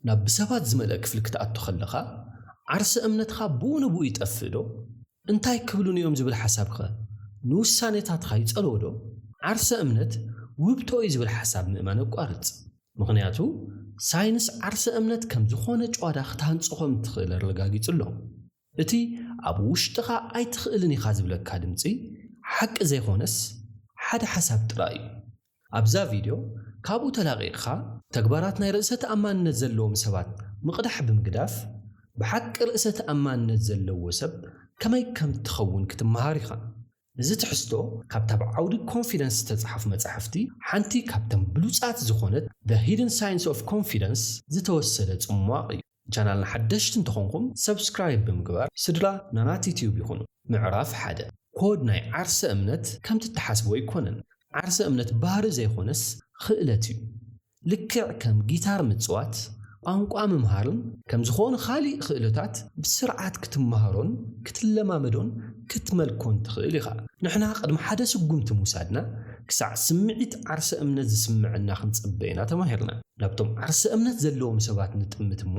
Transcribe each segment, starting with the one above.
ናብ ብሰባት ዝመልአ ክፍሊ ክትኣቱ ኸለኻ፣ ዓርሰ እምነትኻ ብኡ ንብኡ ይጠፍእዶ? እንታይ ክብሉኒ እዮም ዝብል ሓሳብከ ንውሳኔታትኻ ይጸልዎዶ? ዓርሰ እምነት ውህብቶ እዩ ዝብል ሓሳብ ምእማን ኣቋርጽ። ምኽንያቱ ሳይንስ ዓርሰ እምነት ከም ዝኾነ ጭዋዳ ክትሃንጾ ከም እትኽእል ኣረጋጊጹ ኣሎ። እቲ ኣብ ውሽጥኻ ኣይትኽእልን ኢኻ ዝብለካ ድምጺ ሓቂ ዘይኮነስ ሓደ ሓሳብ ጥራይ እዩ። ኣብዛ ቪድዮ ካብኡ ተላቒቕኻ ተግባራት ናይ ርእሰ ተኣማንነት ዘለዎም ሰባት ምቕዳሕ ብምግዳፍ ብሓቂ ርእሰ ተኣማንነት ዘለዎ ሰብ ከመይ ከም እትኸውን ክትመሃር ኢኻ። እዚ ትሕዝቶ ካብታ ኣብ ዓውዲ ኮንፊደንስ ዝተጻሕፉ መጻሕፍቲ ሓንቲ ካብተን ብሉጻት ዝኾነት The Hidden Science of Confidence ዝተወሰደ ጽሟቕ እዩ። ንቻናልና ሓደሽቲ እንተኾንኩም ሰብስክራይብ ብምግባር ስድራ ናናቲ ቲዩብ ይኹኑ። ምዕራፍ ሓደ፣ ኮድ ናይ ዓርሰ እምነት ከምቲ እትሓስብዎ ኣይኮነን። ዓርሰ እምነት ባህሪ ዘይኾነስ ኽእለት እዩ። ልክዕ ከም ጊታር ምፅዋት፣ ቋንቋ ምምሃርን ከምዝኾኑ ኻሊእ ኽእለታት ብስርዓት ክትመሃሮን ክትለማመዶን ክትመልኮን ትኽእል ኢኻ። ንሕና ቕድሚ ሓደ ስጉምቲ ምውሳድና ክሳዕ ስምዒት ዓርሰ እምነት ዝስመዐና ክንፅበ ኢና ተማሂርና። ናብቶም ዓርሰ እምነት ዘለዎም ሰባት ንጥምት እሞ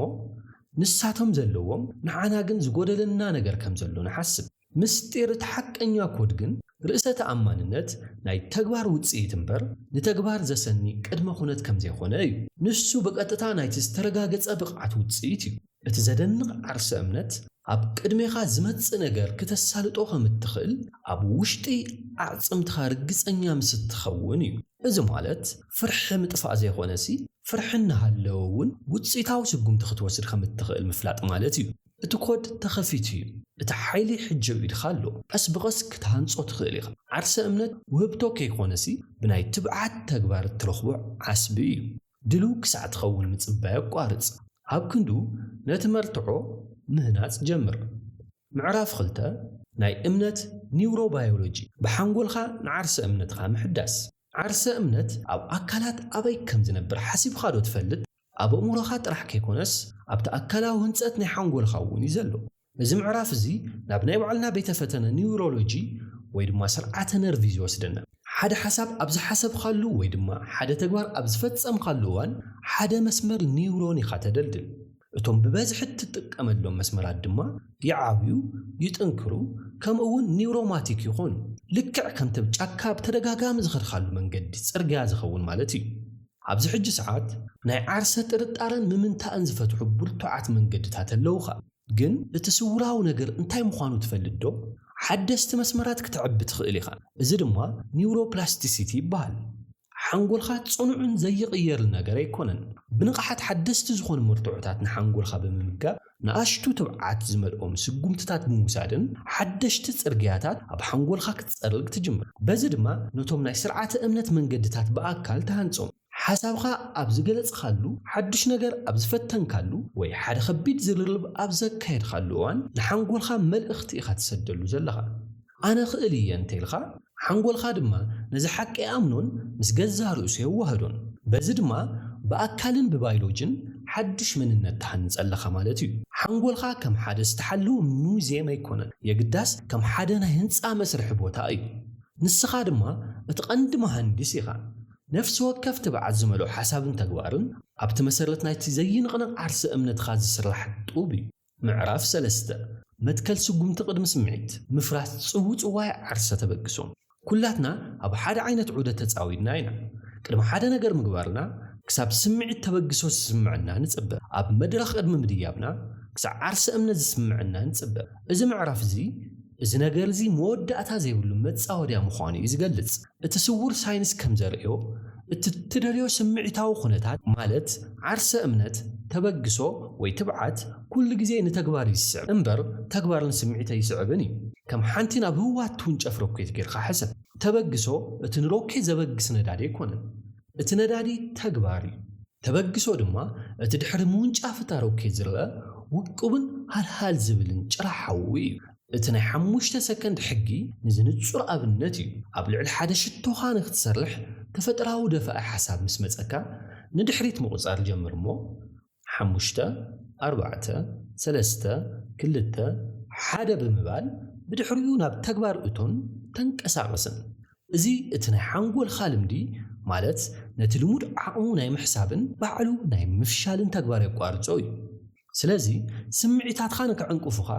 ንሳቶም ዘለዎም ንዓና ግን ዝጎደለና ነገር ከም ዘሎ ንሓስብ። ምስጢር እቲ ሓቀኛ ኮድ ግን ርእሰ ተኣማንነት ናይ ተግባር ውጽኢት እምበር ንተግባር ዘሰኒ ቅድመ ኩነት ከም ዘይኮነ እዩ። ንሱ ብቐጥታ ናይቲ ዝተረጋገጸ ብቕዓት ውጽኢት እዩ። እቲ ዘደንቕ ዓርሰ እምነት ኣብ ቅድሜኻ ዝመጽእ ነገር ክተሳልጦ ከም እትኽእል ኣብ ውሽጢ ኣዕጽምትኻ ርግጸኛ ምስ እትኸውን እዩ። እዚ ማለት ፍርሒ ምጥፋእ ዘይኮነሲ ፍርሒ እናሃለወ እውን ውጽኢታዊ ስጉምቲ ክትወስድ ከም እትኽእል ምፍላጥ ማለት እዩ። እቲ ኮድ ተኸፊቱ እዩ። እቲ ሓይሊ ሕጂ ኣብ ኢድኻ ኣሎ። ቀስ ብቐስ ክትሃንጾ ትኽእል ኢኻ። ዓርሰ እምነት ውህብቶ ከይኮነሲ ብናይ ትብዓት ተግባር እትረኽቦ ዓስቢ እዩ። ድልው ክሳዕ ትኸውን ምጽባይ ኣቋርጽ። ኣብ ክንድኡ ነቲ መርትዖ ምህናጽ ጀምር። ምዕራፍ ክልተ ናይ እምነት ኒውሮባዮሎጂ፣ ብሓንጎልካ ንዓርሰ እምነትካ ምሕዳስ። ዓርሰ እምነት ኣብ ኣካላት ኣበይ ከም ዝነብር ሓሲብካዶ ትፈልጥ? ኣብ ኣእምሮኻ ጥራሕ ከይኮነስ ኣብቲ ኣካላዊ ህንጸት ናይ ሓንጎልካ እውን እዩ ዘሎ። እዚ ምዕራፍ እዚ ናብ ናይ ባዕልና ቤተ ፈተነ ኒውሮሎጂ ወይ ድማ ስርዓተ ነርቭ እዩ ዝወስደና። ሓደ ሓሳብ ኣብ ዝሓሰብኻሉ ወይ ድማ ሓደ ተግባር ኣብ ዝፈጸምኻሉ እዋን ሓደ መስመር ኒውሮን ኢኻ ተደልድል። እቶም ብበዝሒ እትጥቀመሎም መስመራት ድማ ይዓብዩ፣ ይጥንክሩ፣ ከምኡ እውን ኒውሮማቲክ ይኾኑ። ልክዕ ከምቲ ኣብ ጫካ ብተደጋጋሚ ዝኸድካሉ መንገዲ፣ ጽርግያ፣ ዝኸውን ማለት እዩ። ኣብዚ ሕጂ ሰዓት ናይ ዓርሰ ጥርጣረን ምምንታእን ዝፈትሑ ብርቱዓት መንገድታት ኣለዉኻ። ግን እቲ ስውራዊ ነገር እንታይ ምዃኑ ትፈልጥዶ? ሓደስቲ መስመራት ክተዕቢ ትኽእል ኢኻ፣ እዚ ድማ ኒውሮፕላስቲሲቲ ይበሃል። ሓንጎልካ ጽኑዕን ዘይቕየርን ነገር ኣይኮነን። ብንቕሓት ሓደስቲ ዝኾኑ መርትዖታት ንሓንጎልካ ብምምጋብ፣ ንኣሽቱ ትብዓት ዝመልኦም ስጉምትታት ብምውሳድን ሓደሽቲ ጽርግያታት ኣብ ሓንጎልካ ክትጸርግ ትጅምር። በዚ ድማ ነቶም ናይ ስርዓተ እምነት መንገድታት ብኣካል ትሃንጾም። ሓሳብካ ኣብ ዝገለጽካሉ፣ ሓዱሽ ነገር ኣብ ዝፈተንካሉ፣ ወይ ሓደ ከቢድ ዝርርብ ኣብ ዘካየድካሉ እዋን ንሓንጎልካ መልእኽቲ ኢኻ ትሰደሉ ዘለኻ። ኣነ እኽእል እየ እንተ ኢልካ፣ ሓንጎልካ ድማ ነዚ ሓቂ ኣይኣምኖን፣ ምስ ገዛእ ርእሱ የዋህዶን። በዚ ድማ ብኣካልን ብባይሎጅን ሓድሽ መንነት ትሃንጽ ኣለኻ ማለት እዩ። ሓንጎልካ ከም ሓደ ዝተሓለወ ሙዝየም ኣይኮነን፣ የግዳስ ከም ሓደ ናይ ህንጻ መስርሒ ቦታ እዩ። ንስኻ ድማ እቲ ቀንዲ መሃንዲስ ኢኻ። ነፍሲ ወከፍ ትብዓት ዝመልኦ ሓሳብን ተግባርን ኣብቲ መሰረት ናይቲ ዘይንቕነቕ ዓርሰ እምነትካ ዝስራሕ ጡብ እዩ። ምዕራፍ ሰለስተ መትከል ስጉምቲ ቅድሚ ስምዒት ምፍራስ ጽውጽዋይ ዓርሰ ተበግሶ ኩላትና ኣብ ሓደ ዓይነት ዑደት ተጻዊድና ኢና። ቅድሚ ሓደ ነገር ምግባርና ክሳብ ስምዒት ተበግሶ ዝስምዐና ንጽበ። ኣብ መድረኽ ቅድሚ ምድያብና ክሳዕ ዓርሰ እምነት ዝስምዐና ንጽበ። እዚ ምዕራፍ እዚ እዚ ነገር እዚ መወዳእታ ዘይብሉ መጻወድያ ምዃኑ እዩ ዝገልጽ። እቲ ስዉር ሳይንስ ከም ዘርእዮ፣ እቲ እትደልዮ ስምዒታዊ ዅነታት፣ ማለት ዓርሰ እምነት፣ ተበግሶ፣ ወይ ትብዓት፣ ኵሉ ግዜ ንተግባር እዩ ዚስዕብ እምበር፣ ተግባር ንስምዒት ኣይስዕብን እዩ። ከም ሓንቲ ናብ ህዋ እትውንጨፍ ሮኬት ጌርካ ሕሰብ። ተበግሶ እቲ ንሮኬት ዘበግስ ነዳዲ ኣይኰነን። እቲ ነዳዲ ተግባር እዩ። ተበግሶ ድማ እቲ ድሕሪ ምውንጫፍ እታ ሮኬት ዝርኣ ውቁብን ሃልሃል ዚብልን ጭራ ሓዊ እዩ። እቲ ናይ ሓሙሽተ ሰከንድ ሕጊ ንዚ ንጹር ኣብነት እዩ፣ ኣብ ልዕሊ ሓደ ሽቶኻ ንክትሰርሕ ተፈጥራዊ ደፋኢ ሓሳብ ምስ መጸካ ንድሕሪት ምቁጻር ጀምር እሞ ሓሙሽተ ኣርባዕተ ሰለስተ ክልተ ሓደ ብምባል ብድሕሪኡ ናብ ተግባር እቶን ተንቀሳቅስን እዚ እቲ ናይ ሓንጎልካ ልምዲ ማለት ነቲ ልሙድ ዓቅሙ ናይ ምሕሳብን ባዕሉ ናይ ምፍሻልን ተግባር የቋርጾ እዩ። ስለዚ ስምዒታትካ ንክዕንቅፉኻ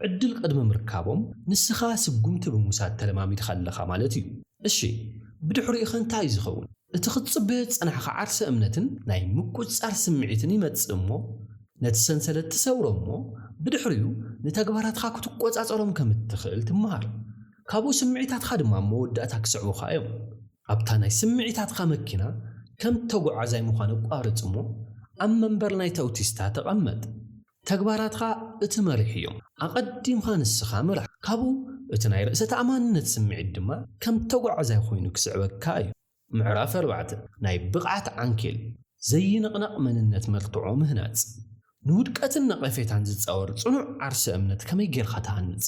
ዕድል ቅድሚ ምርካቦም ንስኻ ስጉምቲ ብምውሳድ ተለማሚድካ ኣለኻ ማለት እዩ። እሺ ብድሕሪኡኸ እንታይ እዩ ዝኸውን? እቲ ክትጽበዮ ዝጸናሕካ ዓርሰ እምነትን ናይ ምቁጽጻር ስምዒትን ይመጽእ እሞ ነቲ ሰንሰለት ትሰብሮ እሞ ብድሕሪኡ ንተግባራትካ ክትቆጻጸሮም ከም እትኽእል ትመሃር። ካብኡ ስምዒታትካ ድማ ኣብ መወዳእታ ክስዕቡኻ እዮም። ኣብታ ናይ ስምዒታትካ መኪና ከም ተጓዓዛይ ምዃን ኣቋርጽ እሞ ኣብ መንበር ናይታ ኣውቲስታ ተቐመጥ። ተግባራትካ እቲ መሪሕ እዮ። ኣቐዲምካ ንስኻ ምራሕ። ካብኡ እቲ ናይ ርእሰ ተኣማንነት ስምዒት ድማ ከም ተጓዓዛይ ኮይኑ ክስዕበካ እዩ። ምዕራፍ ኣርባዕተ ናይ ብቕዓት ዓንኬል፣ ዘይንቕነቕ መንነት መርትዖ ምህናጽ። ንውድቀትን ነቐፌታን ዝጻወር ጽኑዕ ዓርሰ እምነት ከመይ ጌርካ ትሃንጽ?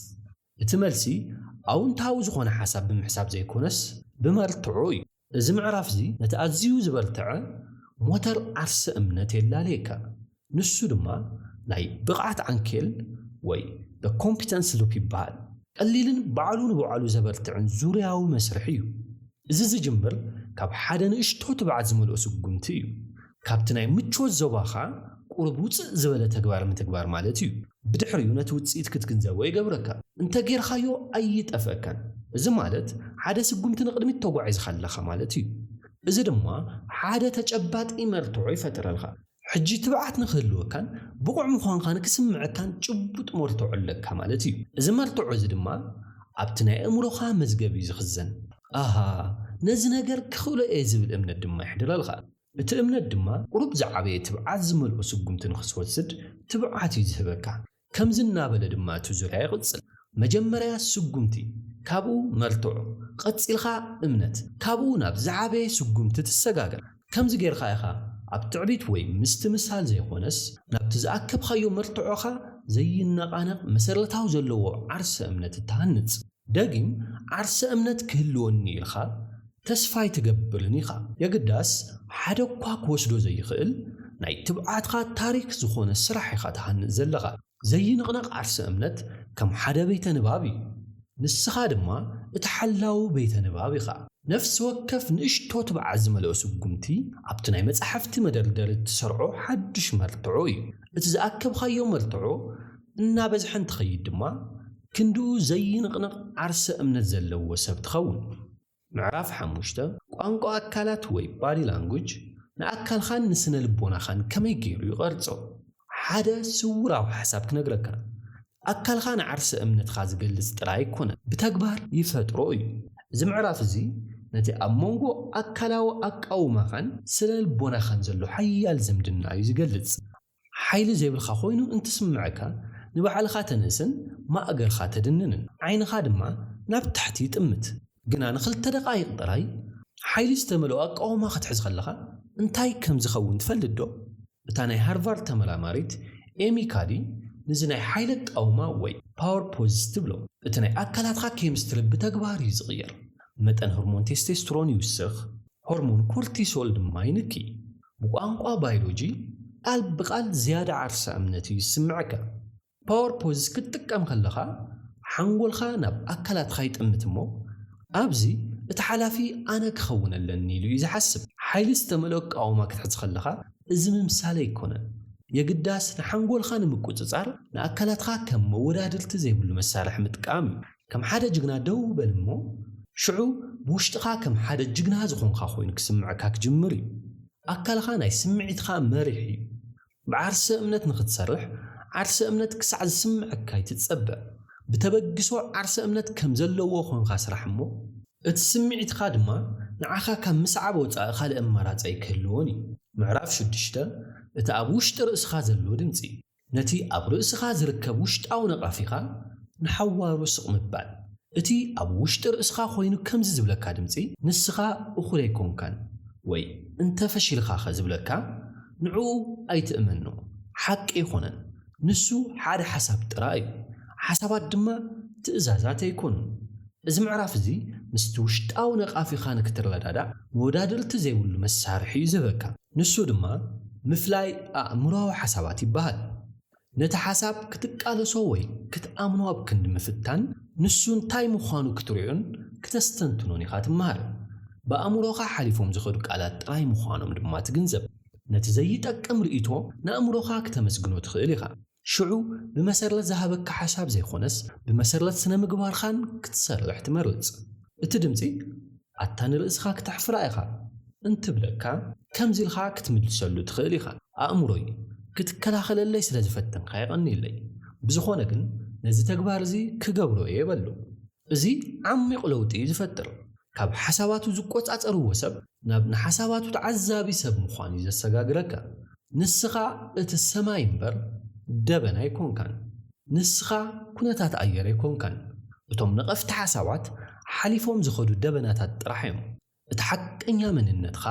እቲ መልሲ ኣውንታዊ ዝኾነ ሓሳብ ብምሕሳብ ዘይኮነስ ብመርትዖ እዩ። እዚ ምዕራፍዚ ነቲ ኣዝዩ ዝበርተዐ ሞተር ዓርሰ እምነት የላልየካ። ንሱ ድማ ናይ ብቕዓት ዓንኬል ወይ the competence loop ይበሃል። ቀሊልን ባዕሉ ንባዕሉ ዘበርትዕን ዙርያዊ መስርሕ እዩ። እዚ ዝጅምር ካብ ሓደ ንእሽቶ ትብዓት ዝመልኦ ስጉምቲ እዩ። ካብቲ ናይ ምቾት ዞባኻ ቁሩብ ውጽእ ዝበለ ተግባር ምትግባር ማለት እዩ። ብድሕሪኡ ነቲ ውጽኢት ክትግንዘቦ ይገብረካ። እንተ ጌርካዮ ኣይጠፍእካን። እዚ ማለት ሓደ ስጉምቲ ንቕድሚት ተጓዒዝካ ኣለኻ ማለት እዩ። እዚ ድማ ሓደ ተጨባጢ መርትዖ ይፈጥረልካ። ሕጂ ትብዓት ንክህልወካን ብቑዕ ምዃንካ ንክስምዐካን ጭቡጥ መርትዖ ኣለካ ማለት እዩ። እዚ መርትዖ እዚ ድማ ኣብቲ ናይ ኣእምሮኻ መዝገብ እዩ ዝኽዘን። ኣሃ ነዚ ነገር ክኽእሎ እየ ዝብል እምነት ድማ የሕድረልካ። እቲ እምነት ድማ ቁሩብ ዝዓበየ ትብዓት ዝመልኦ ስጉምቲ ንኽትወስድ ትብዓት እዩ ዝህበካ። ከምዚ እናበለ ድማ እቲ ዙርያ ይቕጽል፣ መጀመርያ ስጉምቲ፣ ካብኡ መርትዖ፣ ቐጺልካ እምነት፣ ካብኡ ናብ ዝዓበየ ስጉምቲ ትሰጋገር። ከምዚ ጌርካ ኢኻ ኣብ ትዕቢት ወይ ምስትምሳል ዘይኾነስ ናብቲ ዝኣከብካዮ መርትዖኻ ዘይነቓነቕ መሰረታዊ ዘለዎ ዓርሰ እምነት እትሃንጽ። ደጊም ዓርሰ እምነት ክህልወኒ ኢልካ ተስፋ ኣይትገብርን ኢኻ። የግዳስ ሓደ'ኳ ክወስዶ ዘይኽእል ናይ ትብዓትካ ታሪክ ዝኾነ ስራሕ ኢኻ ትሃንጽ ዘለኻ። ዘይንቕነቕ ዓርሰ እምነት ከም ሓደ ቤተ ንባብ እዩ። ንስኻ ድማ እቲ ሓላዊ ቤተ ንባብ ኢኻ። ነፍሲ ወከፍ ንእሽቶ ትብዓት ዝመልኦ ስጉምቲ ኣብቲ ናይ መጻሕፍቲ መደርደሪ እትሰርዖ ሓድሽ መርትዖ እዩ። እቲ ዝኣከብካዮ መርትዖ እናበዝሐ እንትኸይድ ድማ፣ ክንድኡ ዘይንቕነቕ ዓርሰ እምነት ዘለዎ ሰብ ትኸውን። ምዕራፍ ሓሙሽተ፣ ቋንቋ ኣካላት ወይ Body Language ንኣካልኻን ንስነ ልቦናኻን ከመይ ገይሩ ይቐርጾ? ሓደ ስውራዊ ሓሳብ ክነግረካ፣ ኣካልኻ ንዓርሰ እምነትካ ዝገልጽ ጥራይ ኣይኮነን፣ ብተግባር ይፈጥሮ እዩ። እዚ ምዕራፍ እዚ ነቲ ኣብ መንጎ ኣካላዊ ኣቃውማኻን ስነ ልቦናኻን ዘሎ ሓያል ዝምድና እዩ ዝገልጽ። ሓይሊ ዘይብልካ ኮይኑ እንትስምዕካ ንባዕልኻ ተንእስን ማእገርኻ ተድንንን ዓይንኻ ድማ ናብ ታሕቲ ይጥምት። ግና ንኽልተ ደቓይቕ ጥራይ ሓይሊ ዝተመልኦ ኣቃውማ ክትሕዝ ከለኻ እንታይ ከም ዝኸውን ትፈልጥዶ? እታ ናይ ሃርቫርድ ተመራማሪት ኤሚ ካዲ ንዚ ናይ ሓይሊ ኣቃውማ ወይ ፓወር ፖዝስ ትብሎ። እቲ ናይ ኣካላትካ ኬሚስትሪ ብተግባር እዩ ዝቕየር። መጠን ሆርሞን ቴስቴስትሮን ይውስኽ፣ ሆርሞን ኮርቲሶል ድማ ይንኪ። ብቋንቋ ባይሎጂ ቃል ብቓል ዝያዳ ዓርሰ እምነት እዩ ዝስምዐካ። ፓወር ፖዝስ ክትጥቀም ከለኻ ሓንጎልካ ናብ ኣካላትካ ይጥምት እሞ ኣብዚ እቲ ሓላፊ ኣነ ክኸውን ኣለኒ ኢሉ እዩ ዝሓስብ። ሓይሊ ዝተመልኦ ኣቃውማ ክትሕዝ ከለኻ እዚ ምምሳል ኣይኮነን። የግዳስ ንሓንጎልካ ንምቁጽጻር ንኣካላትካ ከም መወዳድርቲ ዘይብሉ መሳርሒ ምጥቃም እዩ። ከም ሓደ ጅግና ደው በል እሞ፣ ሽዑ ብውሽጥኻ ከም ሓደ ጅግና ዝኾንካ ኮይኑ ክስምዐካ ክጅምር እዩ። ኣካልኻ ናይ ስምዒትኻ መሪሕ እዩ። ብዓርሰ እምነት ንኽትሰርሕ ዓርሰ እምነት ክሳዕ ዝስምዐካ ኣይትጸበ። ብተበግሶ ዓርሰ እምነት ከም ዘለዎ ኮንካ ስራሕ እሞ፣ እቲ ስምዒትካ ድማ ንዓኻ ካብ ምስዓብ ወጻኢ ካልእ ኣማራጺ ኣይክህልዎን እዩ። ምዕራፍ ሽዱሽተ፣ እቲ ኣብ ውሽጢ ርእስኻ ዘሎ ድምጺ። ነቲ ኣብ ርእስኻ ዝርከብ ውሽጣዊ ነቓፊኻ ንሓዋሩ ስቕ ምባል። እቲ ኣብ ውሽጢ ርእስኻ ኮይኑ ከምዚ ዝብለካ ድምጺ፣ ንስኻ እኹል ኣይኮንካን ወይ እንተ ፈሺልኻኸ ዝብለካ፣ ንዕኡ ኣይትእመኖ። ሓቂ ኣይኮነን። ንሱ ሓደ ሓሳብ ጥራይ እዩ። ሓሳባት ድማ ትእዛዛት ኣይኮኑን። እዚ ምዕራፍ እዚ ምስቲ ውሽጣዊ ነቓፊኻ ንክትረዳዳእ መወዳድርቲ ዘይብሉ መሳርሒ እዩ ዝህበካ። ንሱ ድማ ምፍላይ ኣእምሮኣዊ ሓሳባት ይበሃል። ነቲ ሓሳብ ክትቃለሶ ወይ ክትኣምኖ ኣብ ክንዲ ምፍታን፣ ንሱ እንታይ ምዃኑ ክትሪኦን ክተስተንትኖን ኢኻ ትመሃር። ብኣእምሮኻ ሓሊፎም ዝኸዱ ቃላት ጥራይ ምዃኖም ድማ ትግንዘብ። ነቲ ዘይጠቅም ርእይቶ ንኣእምሮኻ ክተመስግኖ ትኽእል ኢኻ። ሽዑ ብመሰረት ዝሃበካ ሓሳብ ዘይኮነስ ብመሰረት ስነ ምግባርካን ክትሰርሕ ትመርጽ። እቲ ድምጺ ኣታ ንርእስካ ክተሕፍራ ኢካ እንትብለካ ከምዚ ኢልካ ክትምልሰሉ ትክእል ኢካ ኣእምሮይ ክትከላከለለይ ስለ ዝፈተንካ የቀንየለይ ብዝኮነ ግን ነዚ ተግባር እዚ ክገብሮ እየ በሎ። እዚ ዓሚቝ ለውጢ እዩ ዝፈጥር። ካብ ሓሳባቱ ዝቈጻጸርዎ ሰብ ናብ ንሓሳባቱ ተዓዛቢ ሰብ ምዃን እዩ ዘሰጋግረካ። ንስኻ እቲ ሰማይ እምበር ደበና ኣይኰንካን። ንስኻ ኵነታት ኣየር ኣይኰንካን። እቶም ነቐፍቲ ሓሳባት ሓሊፎም ዝኸዱ ደበናታት ጥራሕ እዮም። እቲ ሓቀኛ መንነትካ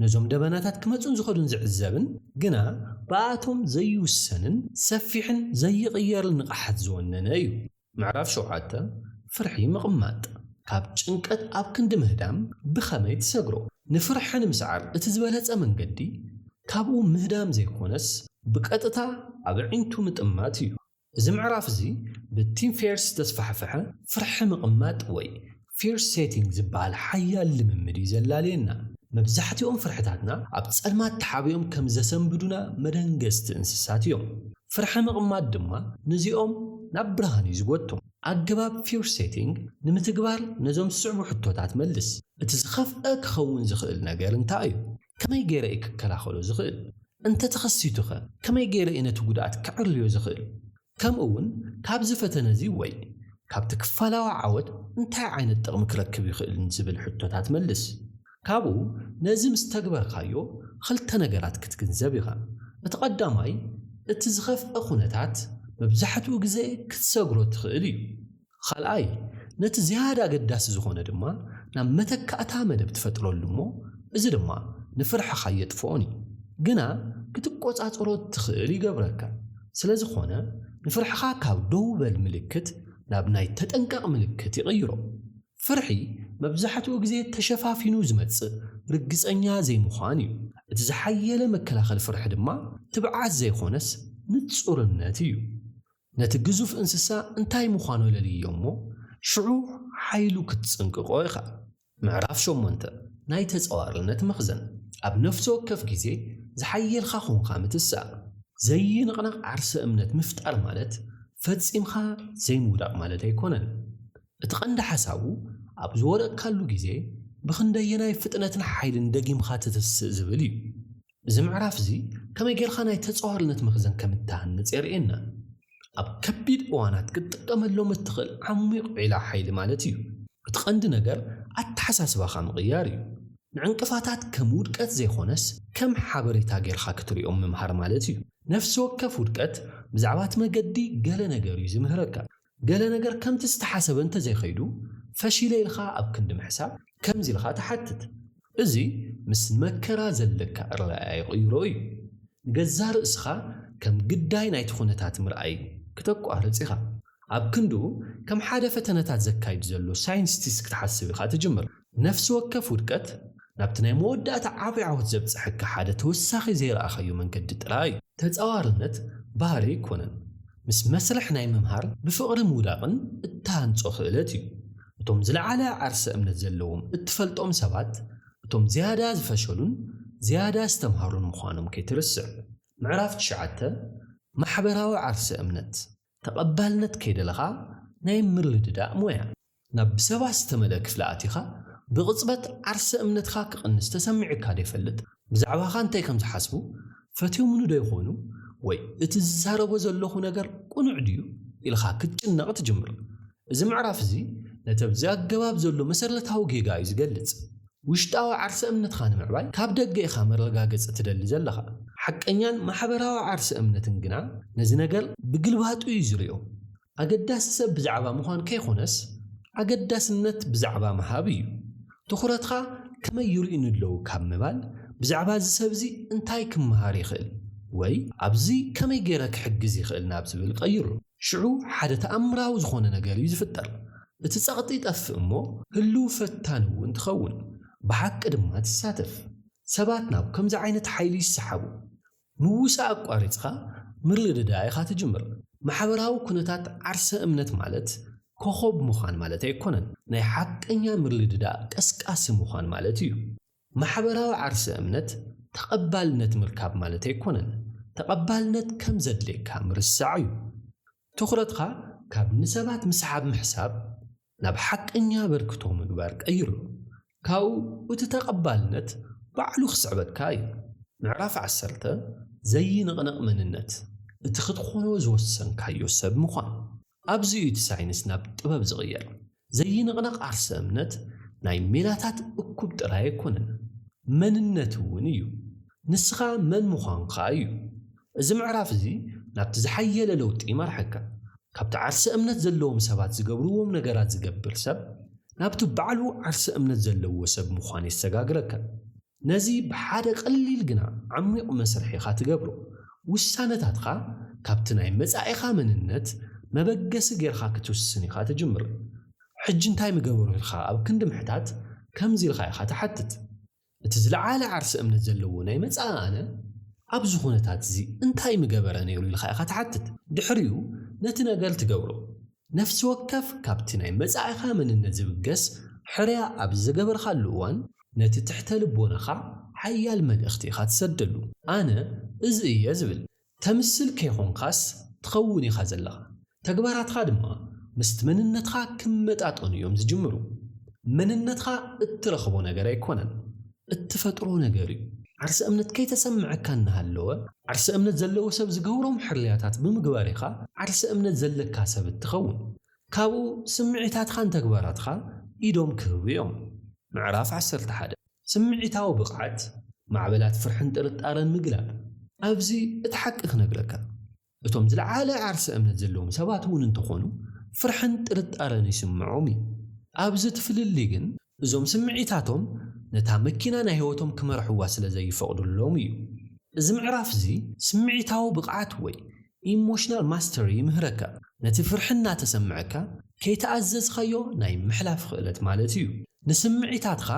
ነዞም ደበናታት ክመጹን ዝኸዱን ዝዕዘብን ግና ብኣቶም ዘይውሰንን ሰፊሕን ዘይቕየርን ንቕሓት ዝወነነ እዩ። ምዕራፍ ሸውዓተ፣ ፍርሒ ምቕማጥ ካብ ጭንቀት ኣብ ክንዲ ምህዳም ብኸመይ ትሰግሮ? ንፍርሒ ንምስዓር እቲ ዝበለጸ መንገዲ ካብኡ ምህዳም ዘይኮነስ ብቀጥታ ኣብ ኣዒንቱ ምጥማት እዩ። እዚ ምዕራፍ እዚ ብቲም ፌርስ ዝተስፋሕፍሐ ፍርሒ ምቕማጥ ወይ Fear Setting ዝበሃል ሓያል ልምምድ እዩ ዘላልየና። መብዛሕትኦም ፍርሕታትና ኣብ ጸልማት ተሓቢኦም ከም ዘሰንብዱና መደንገጽቲ እንስሳት እዮም። ፍርሒ ምቕማጥ ድማ ነዚኦም ናብ ብርሃን እዩ ዝጎትቶም። ኣገባብ Fear Setting ንምትግባር ነዞም ዝስዕቡ ሕቶታት መልስ፣ እቲ ዝኸፍኣ ክኸውን ዝኽእል ነገር እንታይ እዩ? ከመይ ገይረ እየ ክከላኸሎ ዝኽእል? እንተ ተኸሲቱኸ ከመይ ገይረ እየ ነቲ ጕድኣት ከዐርዮ ዝኽእል? ከምኡውን ካብዚ ፈተነ እዚ ወይ ካብቲ ክፋላዊ ዓወት እንታይ ዓይነት ጥቕሚ ክረክብ ይኽእል ንዝብል ሕቶታት መልስ። ካብኡ ነዚ ምስ ተግበርካዮ ኽልተ ነገራት ክትግንዘብ ኢኻ። እቲ ቐዳማይ፣ እቲ ዝኸፍአ ዅነታት መብዛሕትኡ ግዜ ክትሰግሮ ትኽእል እዩ። ኻልኣይ ነቲ ዝያዳ ኣገዳሲ ዝኾነ ድማ ናብ መተካእታ መደብ ትፈጥረሉ እሞ እዚ ድማ ንፍርሕኻ ኣየጥፍኦን እዩ ግና ክትቆጻጸሮ እትኽእል ይገብረካ ስለዝኾነ ንፍርሕኻ ካብ ደው በል ምልክት ናብ ናይ ተጠንቀቕ ምልክት ይቕይሮ ፍርሒ መብዛሕትኡ ግዜ ተሸፋፊኑ ዝመጽእ ርግጸኛ ዘይምዃን እዩ እቲ ዝሓየለ መከላኸሊ ፍርሒ ድማ ትብዓት ዘይኾነስ ንጹርነት እዩ ነቲ ግዙፍ እንስሳ እንታይ ምዃኑ ለልዮ እሞ ሽዑ ሓይሉ ክትጽንቅቆ ኢኻ። ምዕራፍ ሸሞንተ ናይ ተጻዋርነት መኽዘን ኣብ ነፍሲ ወከፍ ግዜ ዝሓየልካ ኹንካ ምትሳእ። ዘይንቕነቕ ዓርሰ እምነት ምፍጣር ማለት ፈጺምካ ዘይምውዳቕ ማለት ኣይኮነን። እቲ ቀንዲ ሓሳቡ ኣብ ዝወደቕካሉ ግዜ ብኽንደየናይ ፍጥነትን ሓይልን ደጊምካ ትትስእ ዝብል እዩ። እዚ ምዕራፍ እዚ ከመይ ጌርካ ናይ ተጻዋርነት መኽዘን ከም እትሃንጽ የርእየና። ኣብ ከቢድ እዋናት ክትጥቀመሎም እትኽእል ዓሚቕ ዒላ ሓይሊ ማለት እዩ። እቲ ቀንዲ ነገር ኣተሓሳስባኻ ምቕያር እዩ። ንዕንቅፋታት ከም ውድቀት ዘይኮነስ ከም ሓበሬታ ጌርካ ክትሪኦም ምምሃር ማለት እዩ። ነፍሲ ወከፍ ውድቀት ብዛዕባ እቲ መገዲ ገለ ነገር እዩ ዝምህረካ። ገለ ነገር ከምቲ ዝተሓሰበ እንተዘይከይዱ፣ ፈሺለ ኢልካ ኣብ ክንዲ ምሕሳብ ከምዚ ኢልካ ትሓትት። እዚ ምስ ንመከራ ዘለካ ኣረኣእያ ይቕይሮ እዩ። ንገዛእ ርእስኻ ከም ግዳይ ናይቲ ኩነታት ምርኣይ ክተቋርጽ ኢኻ። ኣብ ክንድኡ ከም ሓደ ፈተነታት ዘካይድ ዘሎ ሳይንስቲስት ክትሓስብ ኢኻ ትጅምር። ነፍሲ ወከፍ ውድቀት ናብቲ ናይ መወዳእታ ዓቢ ዓወት ዘብጽሐካ ሓደ ተወሳኺ ዘይረኣኻዮ መንገዲ ጥራይ እዩ። ተጻዋርነት ባህሪ ኣይኮነን፣ ምስ መስርሕ ናይ ምምሃር ብፍቕሪ ምውዳቕን እትሃንጾ ክእለት እዩ። እቶም ዝለዓለ ዓርሰ እምነት ዘለዎም እትፈልጦም ሰባት እቶም ዝያዳ ዝፈሸሉን ዝያዳ ዝተምሃሩን ምዃኖም ከይትርስዕ። ምዕራፍ ትሽዓተ፣ ማሕበራዊ ዓርሰ እምነት። ተቐባልነት ከይደለኻ ናይ ምርድዳእ ሞያ። ናብ ብሰባት ዝተመልአ ክፍሊ ኣቲኻ ብቕጽበት ዓርሰ እምነትካ ክቕንስ ተሰሚዑካዶ ይፈልጥ? ብዛዕባኻ እንታይ ከም ዝሓስቡ ፈትዮሙኒዶ ይኾኑ ወይ እቲ ዝዛረቦ ዘለኹ ነገር ቅኑዕ ድዩ ኢልኻ ክትጭነቕ ትጅምር። እዚ ምዕራፍ እዚ ነቲ ኣብዚ ኣገባብ ዘሎ መሰረታዊ ጌጋ እዩ ዝገልጽ። ውሽጣዊ ዓርሰ እምነትካ ንምዕባይ ካብ ደገ ኢኻ መረጋገጺ ትደሊ ዘለኻ። ሓቀኛን ማሕበራዊ ዓርሰ እምነትን ግና ነዚ ነገር ብግልባጡ እዩ ዝሪኦ። ኣገዳሲ ሰብ ብዛዕባ ምዃን ከይኮነስ ኣገዳስነት ብዛዕባ ምሃብ እዩ። ትኹረትካ ከመይ ይሪኡኒ ኣለዉ ካብ ምባል ብዛዕባ እዚ ሰብ እዚ እንታይ ክመሃር ይኽእል ወይ ኣብዚ ከመይ ገይረ ክሕግዝ ይኽእል ናብ ዝብል ቀይሮ። ሽዑ ሓደ ተኣምራዊ ዝኾነ ነገር እዩ ዝፍጠር። እቲ ጸቕጢ ይጠፍእ እሞ ህሉው ፈታኒ እውን ትኸውን፣ ብሓቂ ድማ ትሳተፍ። ሰባት ናብ ከምዚ ዓይነት ሓይሊ ይሰሓቡ። ምውሳእ ኣቋሪጽካ ምርድዳእ ኢኻ ትጅምር። ማሕበራዊ ኩነታት ዓርሰ እምነት ማለት ኮኾብ ምዃን ማለት ኣይኮነን፣ ናይ ሓቀኛ ምርድዳእ ቀስቃሲ ምዃን ማለት እዩ። ማሕበራዊ ዓርሰ እምነት ተቐባልነት ምርካብ ማለት ኣይኮነን። ተቐባልነት ከም ዘድልየካ ምርሳዕ እዩ። ትኹረትካ ካብ ንሰባት ምስሓብ ምሕሳብ ናብ ሓቀኛ ኣበርክቶ ምግባር ቀይሮ። ካብኡ እቲ ተቐባልነት ባዕሉ ክስዕበካ እዩ። ምዕራፍ ዓሰርተ፣ ዘይንቕነቕ መንነት፣ እቲ ክትኾኖ ዝወሰንካዮ ሰብ ምዃን። ኣብዚ እዩ እቲ ሳይንስ ናብ ጥበብ ዝቕየር። ዘይንቕነቕ ዓርሰ እምነት ናይ ሜላታት እኩብ ጥራይ ኣይኮነን፣ መንነት እውን እዩ። ንስኻ መን ምዃንካ እዩ። እዚ ምዕራፍ እዚ ናብቲ ዝሓየለ ለውጢ ይመርሓካ። ካብቲ ዓርሰ እምነት ዘለዎም ሰባት ዝገብርዎም ነገራት ዝገብር ሰብ ናብቲ ባዕሉ ዓርሰ እምነት ዘለዎ ሰብ ምዃን የሰጋግረካ። ነዚ ብሓደ ቀሊል ግና ዓሚቝ መስርሕ ኢኻ ትገብሮ። ውሳነታትካ ካብቲ ናይ መጻኢኻ መንነት መበገሲ ጌርካ ክትውስን ኢኻ ትጅምር። ሕጂ እንታይ ምገበሩ ኢልካ ኣብ ክንዲ ምሕታት ከምዚ ኢልካ ኢኻ ትሓትት፣ እቲ ዝለዓለ ዓርሰ እምነት ዘለዎ ናይ መጻኢ ኣነ ኣብዚ ኩነታትዚ እንታይ ምገበረ ነይሩ ኢልካ ኢኻ ትሓትት። ድሕሪኡ ነቲ ነገር ትገብሮ። ነፍሲ ወከፍ ካብቲ ናይ መጻኢኻ መንነት ዝብገስ ሕርያ ኣብ ዝገበርካሉ እዋን፣ ነቲ ትሕተ ልቦናኻ ሓያል መልእኽቲ ኢኻ ትሰደሉ። ኣነ እዚ እየ ዝብል ተምስል ከይኮንካስ ትኸውን ኢኻ ዘለኻ። ተግባራትካ ድማ ምስቲ መንነትካ ክመጣጠኑ እዮም ዝጅምሩ። መንነትካ እትረኽቦ ነገር ኣይኮነን እትፈጥሮ ነገር እዩ። ዓርሰ እምነት ከይተሰመዐካ እናሃለወ ዓርሰ እምነት ዘለዎ ሰብ ዝገብሮም ሕርያታት ብምግባር ኢኻ ዓርሰ እምነት ዘለካ ሰብ እትኸውን። ካብኡ ስምዒታትኻን ተግባራትካ ኢዶም ክህቡ እዮም። ምዕራፍ ዓሰርተ ሓደ ስምዒታዊ ብቕዓት ማዕበላት ፍርሕን ጥርጣረን ምግላብ። ኣብዚ እቲ ሓቂ ክነግረካ እቶም ዝለዓለ ዓርሰ እምነት ዘለዎም ሰባት እውን እንተኾኑ ፍርሕን ጥርጣረን ይስምዖም እዩ። ኣብዚ እቲ ፍልልይ ግን እዞም ስምዒታቶም ነታ መኪና ናይ ህይወቶም ክመርሕዋ ስለ ዘይፈቕዱሎም እዩ። እዚ ምዕራፍ እዚ ስምዒታዊ ብቕዓት ወይ ኢሞሽናል ማስተሪ ይምህረካ። ነቲ ፍርሒ እናተሰምዐካ ከይተኣዘዝካዮ ናይ ምሕላፍ ክእለት ማለት እዩ። ንስምዒታትካ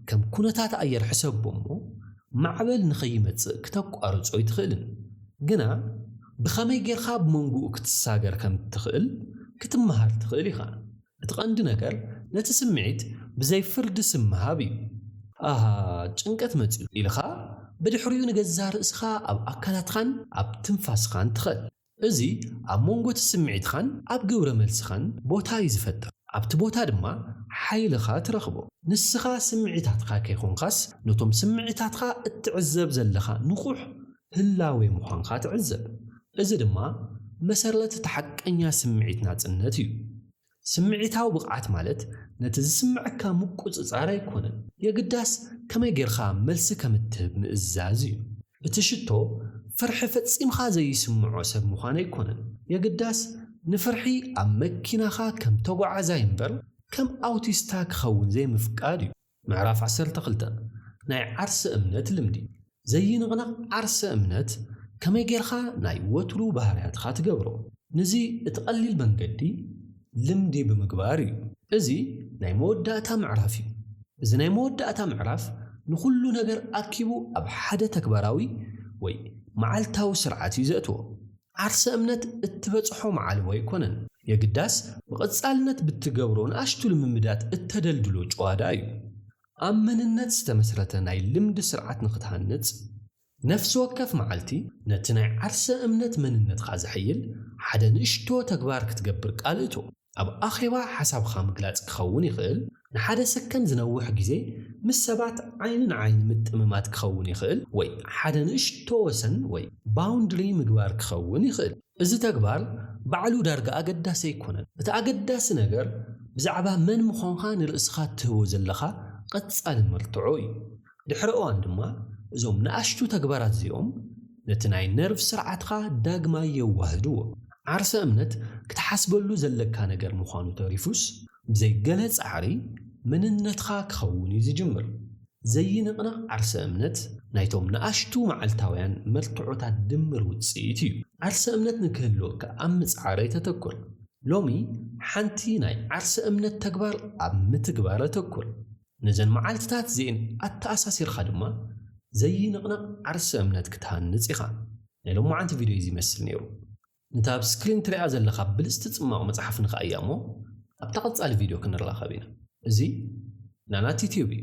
ከም ኩነታት ኣየር ሕሰቦ እሞ ማዕበል ንኸይመጽእ ክተቋርጾ ኣይትኽእልን። ግና ብኸመይ ጌርካ ኣብ መንጎኡ ክትሳገር ከም እትኽእል ክትመሃር ትኽእል ኢኻ። እቲ ቀንዲ ነገር ነቲ ስምዒት ብዘይ ፍርዲ ስም ምሃብ እዩ። ኣሃ ጭንቀት መጺኡ ኢልኻ ብድሕሪኡ ንገዛእ ርእስኻ ኣብ ኣካላትኻን ኣብ ትንፋስኻን ትኸል። እዚ ኣብ መንጎ እቲ ስምዒትኻን ኣብ ግብረ መልስኻን ቦታ እዩ ዝፈጥር። ኣብቲ ቦታ ድማ ሓይልኻ ትረኽቦ። ንስኻ ስምዒታትካ ከይኮንካስ ነቶም ስምዒታትካ እትዕዘብ ዘለኻ ንቑሕ ህላዌ ምዃንካ ትዕዘብ። እዚ ድማ መሰረት እቲ ሓቀኛ ስምዒት ናጽነት እዩ። ስምዒታዊ ብቕዓት ማለት ነቲ ዝስምዐካ ምቁጽጻር ኣይኮነን፣ የግዳስ ከመይ ጌርካ መልሲ ከም እትህብ ምእዛዝ እዩ። እቲ ሽቶ ፍርሒ ፈጺምካ ዘይስምዖ ሰብ ምዃን ኣይኮነን፣ የግዳስ ንፍርሒ ኣብ መኪናኻ ከም ተጓዓዛይ እምበር ከም ኣውቲስታ ክኸውን ዘይምፍቃድ እዩ። ምዕራፍ ዓሰርተ ክልተ፣ ናይ ዓርሰ እምነት ልምዲ። ዘይንቕነቕ ዓርሰ እምነት ከመይ ጌርካ ናይ ወትሩ ባህርያትካ ትገብሮ? ንዚ እቲ ቀሊል መንገዲ ልምዲ ብምግባር እዩ። እዚ ናይ መወዳእታ ምዕራፍ እዩ። እዚ ናይ መወዳእታ ምዕራፍ ንኹሉ ነገር ኣኪቡ ኣብ ሓደ ተግባራዊ ወይ መዓልታዊ ስርዓት እዩ ዘእትዎ። ዓርሰ እምነት እትበጽሖ መዓልቦ ኣይኮነን። የግዳስ ብቐጻልነት ብትገብሮ ንኣሽቱ ልምምዳት እተደልድሎ ጭዋዳ እዩ። ኣብ መንነት ዝተመስረተ ናይ ልምዲ ስርዓት ንኽትሃንጽ፣ ነፍሲ ወከፍ መዓልቲ ነቲ ናይ ዓርሰ እምነት መንነትካ ዘሐይል ሓደ ንእሽቶ ተግባር ክትገብር ቃል እቶ። ኣብ ኣኼባ ሓሳብካ ምግላጽ ክኸውን ይኽእል፣ ንሓደ ሰከንድ ዝነውሕ ግዜ ምስ ሰባት ዓይኒ ንዓይኒ ምጥምማት ክኸውን ይኽእል፣ ወይ ሓደ ንእሽቶ ወሰን ወይ ባውንድሪ ምግባር ክኸውን ይኽእል። እዚ ተግባር ባዕሉ ዳርጋ ኣገዳሲ ኣይኮነን። እቲ ኣገዳሲ ነገር ብዛዕባ መን ምዃንካ ንርእስኻ እትህቦ ዘለኻ ቐጻሊ መርትዖ እዩ። ድሕሪ እዋን ድማ እዞም ንኣሽቱ ተግባራት እዚኦም ነቲ ናይ ነርቭ ስርዓትካ ዳግማይ የዋህድዎ። ዓርሰ እምነት ክትሓስበሉ ዘለካ ነገር ምዃኑ ተሪፉስ ብዘይ ገለ ጻዕሪ መንነትካ ክኸውን እዩ ዝጅምር። ዘይንቕነቕ ዓርሰ እምነት ናይቶም ንኣሽቱ መዓልታውያን መርትዖታት ድምር ውጽኢት እዩ። ዓርሰ እምነት ንክህልወካ ኣብ ምጽዓረይ ተተኩር። ሎሚ ሓንቲ ናይ ዓርሰ እምነት ተግባር ኣብ ምትግባር ኣተኩር። ነዘን መዓልትታት እዚኤን ኣተኣሳሲርካ ድማ ዘይንቕነቕ ዓርሰ እምነት ክትሃንጽ ኢኻ። ናይ ሎማዓንቲ ቪድዮ እዚ ይመስል ነይሩ። ነታ ኣብ ስክሪን ትሪኣ ዘለኻ ብልጽቲ ጽማቕ መጽሓፍ ንክኣያ እሞ ኣብታ ቀጻሊ ቪድዮ ክንራኸብ ኢና። እዚ ናናቲትዩብ እዩ።